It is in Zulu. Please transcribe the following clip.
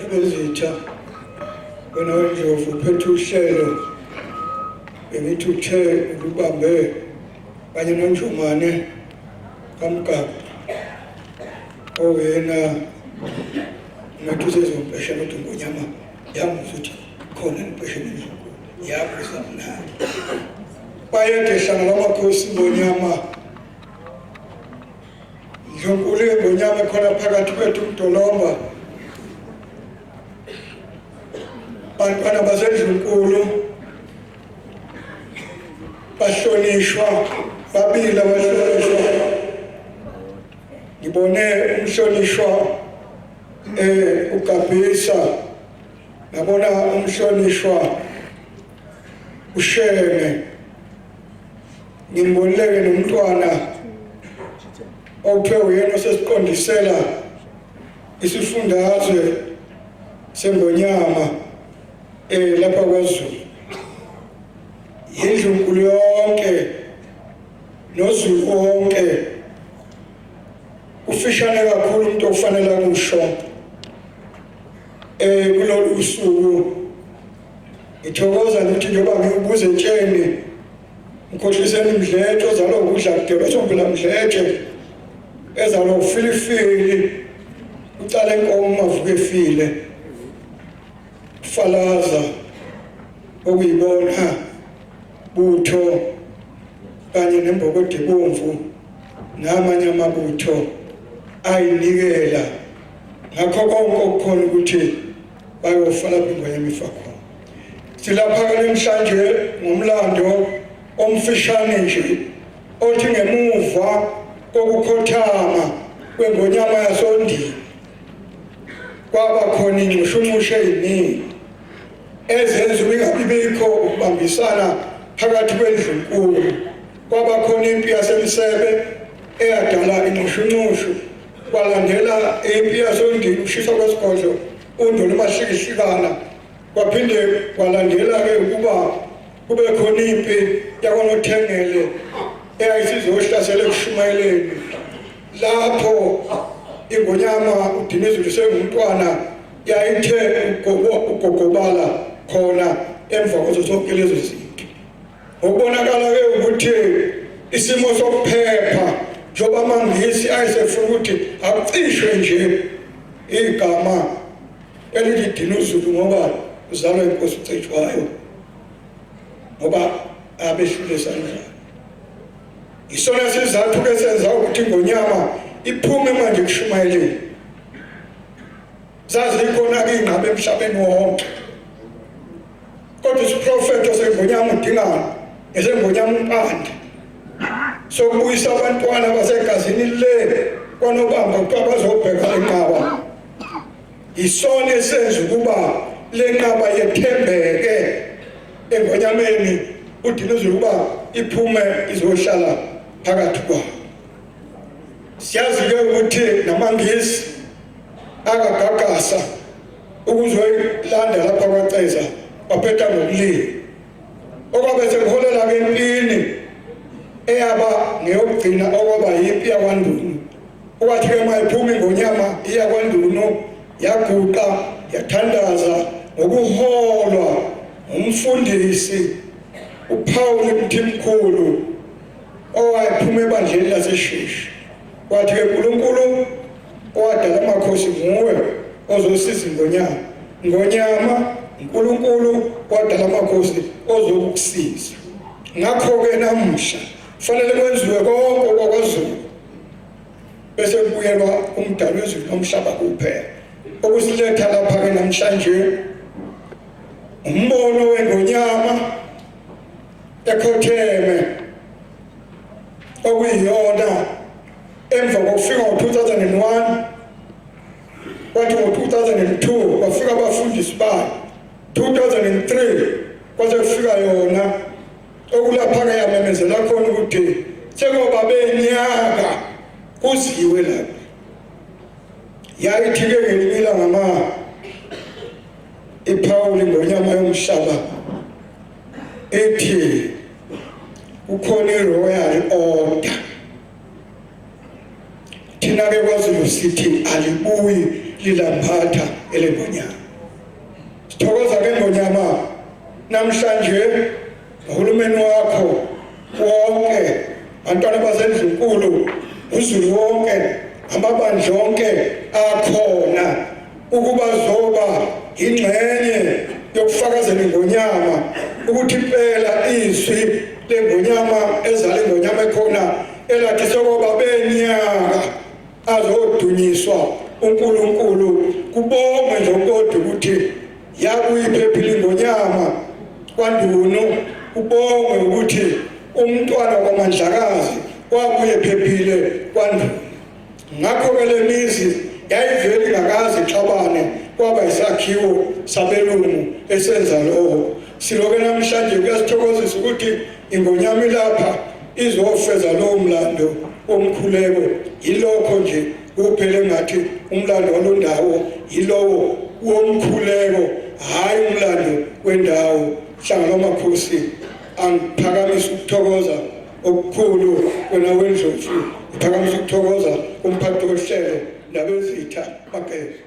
ebezitha wena wendlovu uphethe uhlelo bengithi uthe ulubambe kanye nonjumane kamgaba owena ngathi usezompeshela ukuthi ngonyama yamuzwa ukuthi khona empesheni njengo yakho samnandi bayede hlangana amakhosi ngonyama Ndlunkulu yengonyama ekhona phakathi kwethu umdolomba bantwana basendlunkulu bahlonishwa babili abahlonishwa ngibone umhlonishwa eh ugabhisa nabona umhlonishwa usheme Ngimbonileke nomntwana okuthiwa uyena osesiqondisela isifundazwe sengonyama um lapha kwazulu yindlunkulu yonke nozulu wonke ufishane kakhulu umuntu okufanele akusho um eh, kulolu suku ngithokoza nokuthi njengoba ngiwubuze tsheni Mkhohliseni Mdletshe ozalwa ukudla kudela uThombela Mdletshe ezalwa ufilifili ucala inkomo mavuke efile falaza okuyibona butho kanye nembokode ebomvu namanye amabutho ayinikela ngakho konke okukhona ukuthi Bayofaka phindwa yemifa khona. Silapha ke namhlanje ngomlando omfishane nje othi ngemuva kokukhothama kwengonyama yasondini kwaba khona ingxushunxushe eziningi ezenza ubingabibikho ukubambisana phakathi kwendlunkulu kwaba khona impi yasemsebe eyadala inxushunxushu Kwalandela impi yasondini ukushiswa kwesigodlo uNdoni uMashikishikana kwaphinde kwalandela ke ukuba kube khona impi yakwaNothengele eyayisizohlasela ekushumayeleni lapho ingonyama uDinizulu sengumntwana yayithe ugogobala khona emva kwazo zonke lezo zinto Okubonakala-ke ukuthi isimo sokuphepha njengoba amangisi ayesefuna ukuthi akucishwe nje igama elithi Dinuzulu ngoba uzalwa inkosi uCetshwayo ngoba abehlule sandla isona sizathu ke senza ukuthi ngonyama iphume manje kushumayeleni Zazikhona-ke iy'ngqaba emhlabeni wonke kodwa isiprofetho sengonyama udingana esengonyama umpande sokubuyisa abantwana basegazini le kwanobamba kuthiwa bazobheka le nqaba yisona esenza ukuba le nqaba yethembeke engonyameni udinuzile ukuba iphume izohlala phakathi kwabo siyazi-ke ukuthi namangisi akagagasa ukuzoyilanda lapha kwaceza waphetha ngokulila okwabe sekuholela ke empini eyaba ngeyokugcina okwaba yimpi yakwandunu okwathi ke mayiphumi ngonyama iya kwandunu yaguqa yathandaza ngokuholwa ngumfundisi uphawule mthimkhulu owayephuma ebandleni laseshishi Kwathi-ke uNkulunkulu owadala amakhosi nguwe ozosiza ingonyama. Ngonyama, uNkulunkulu owadala amakhosi ozokusiza. Ngakho-ke namuhla kufanele kwenziwe konke okwakwazulu bese kubuyelwa umdali wezulu nomhlaba kuphela okusiletha lapha-ke namhlanje umbono wengonyama ekhotheme okuyiyona emva kokufika ngo-2001 kwathi ngo-2002 kwafika abafundisi bayo 2003 kwaze kufika yona okulaphaka yamemezela khona ukuthi sengoba benyaka kuziwe lapha yayithi-ke ngelinye ilanga ma iphawuli ngonyama yomhlaba ethi kukhona iroyal order thina ke kwaZulu sithi alibuyi lilamphatha elengonyama sithokoza ke ngonyama namhlanje uhulumeni wakho wonke bantwana basendlunkulu uzulu wonke amabandla onke akhona ukuba zoba ingxenye yokufakazela ingonyama ukuthi impela izwi lengonyama ezala ingonyama ekhona elathi sokoba benyaka azodunyiswa uNkulunkulu kubongwe nje kodwa ukuthi yakuyiphephile ingonyama kwandunu ubongwe ukuthi umntwana kwamandlakazi wabuye phephile kwandunu Ngakho-ke le mizi yayivele ingakaze ixabane kwaba isakhiwo sabelungu esenza lokho. Siloke namhlanje kuyasithokozisa ukuthi ingonyama ilapha izofeza lowo mlando womkhuleko. Yilokho nje kuphele ngathi umlando walondawo yilowo womkhuleko hhayi umlando wendawo. Hlangana omakhosi angiphakamisa ukuthokoza okukhulu wena wendlovu uphakamisa ukuthokoza umphathi wohlelo nabezitha bageza